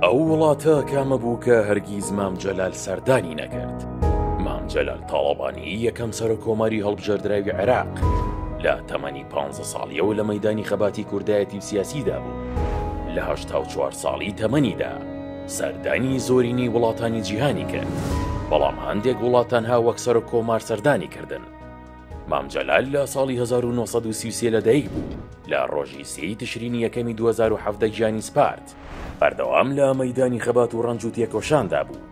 ئەو وڵاتە کامە بوو کە هەرگیز مام جەلال سەردانی نەکرد مام جەلال تاڵەبانی یەکەم سەر کۆماری هەڵبژێردراوی عێراق لە تەمەنی پ ساڵیەوە لە مەدانی خەباتی کوردایەتی و سیاسیدا بوو لەه چوار ساڵی تەمەنیدا سەردانی زۆرینی وڵاتانی جیهانی کرد بەڵام هەندێک وڵاتان ها وەک سەر کۆمار سەردانی کردن مام جەلال لە ساڵی هەزار و نۆ سەد و سی و سێ لەدایک بوو، لە ڕۆژی سێی تشرینی یەکەمی دوو هەزار و حەڤدە گیانی سپارد، بەردەوام لە مەیدانی خەبات و ڕەنج و تێکۆشاندا بوو،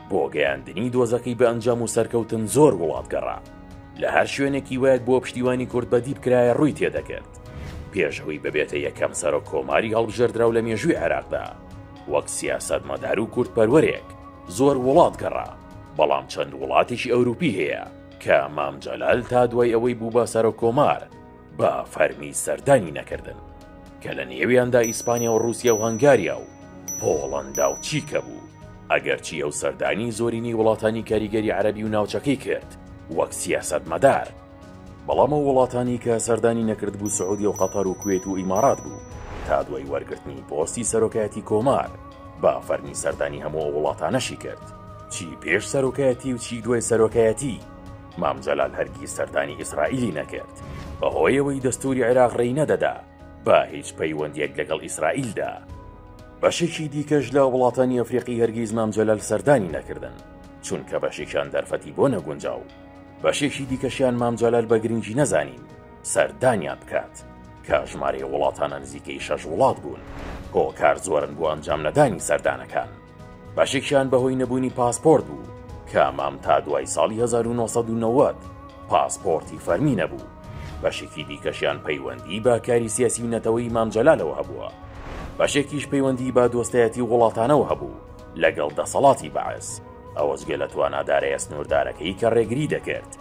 بۆ گەیاندنی دۆزەکەی بە ئەنجام و سەرکەوتن زۆر وڵات گەڕا، لە هەر شوێنێک هیوایەک بۆ پشتیوانی کورد بەدی بکرایە ڕووی تێدەکرد، پێش ئەوەی ببێتە یەکەم سەرۆک کۆماری هەڵبژێردراو لە مێژووی عێراقدا، وەک سیاسەتمەدار و کوردپەروەرێک زۆر وڵات گەڕا، بەڵام چەند وڵاتێکی ئەوروپی هەیە، کە مام جەلال تا دوای ئەوەی بوو بە سەرۆک کۆمار بە فەرمی سەردانی نەکردن کە لە نێویاندا ئیسپانیا و رووسیا و هەنگاریا و پۆڵەندا و چیکە بوو ئەگەرچی ئەو سەردانی زۆرینەی وڵاتانی کاریگەری عەربی و ناوچەکەی کرد وەک سیاسەت مەدار بەڵام ئەو وڵاتانی کە سەردانی نەکرد بوو سعودی و قەتەر و کوێت و ئیمارات بوو تا دوای وەرگرتنی پۆستی سەرۆکایەتی کۆمار با فەرمی سەردانی هەموو وڵاتانەشی کرد چی پێش سەرۆکایەتی و چی دوای سەرۆکایەتی، مام جەلال هەرگیز سەردانی ئیسرائیلی نەکرد، بەهۆیەوەی دەستووری عێراق ڕێی نەدەدا بە هیچ پەیوەندییەک لەگەڵ ئیسرائیلدا. بەشێکی دیکەش لە وڵاتانی ئەفریقی هەرگیز مام جەلال سەردانی نەکردن، چونکە بەشێکیان دەرفەتی بۆ نەگونجا و بەشێکی دیکەشیان مام جەلال بە گرنگی نەزانی سەردانیان بکات، کە ژمارەی وڵاتانە نزیکەی شەش وڵات بوون، هۆکار زۆرن بۆ ئەنجامنەدانی سەردانەکان. بەشێکیان بەهۆی نەبوونی پاسپۆرت بوو، کە مام تا دوای ساڵی هەزار و نۆ سەد و نەوەد پاسپۆرتی فەرمی نەبوو، بەشێکی دیکەشیان پەیوەندیی بە کاری سیاسی و نەتەوەیی مام جەلالەوە هەبووە، بەشێکیش پەیوەندیی بە دۆستایەتی وڵاتانەوە هەبوو لەگەڵ دەسەڵاتی بەعس، ئەوەجگە لە توانا دارایە سنووردارەکەی کە ڕێگری دەکرد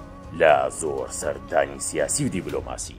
لە زۆر سەردانی سیاسی و دیبلۆماسی.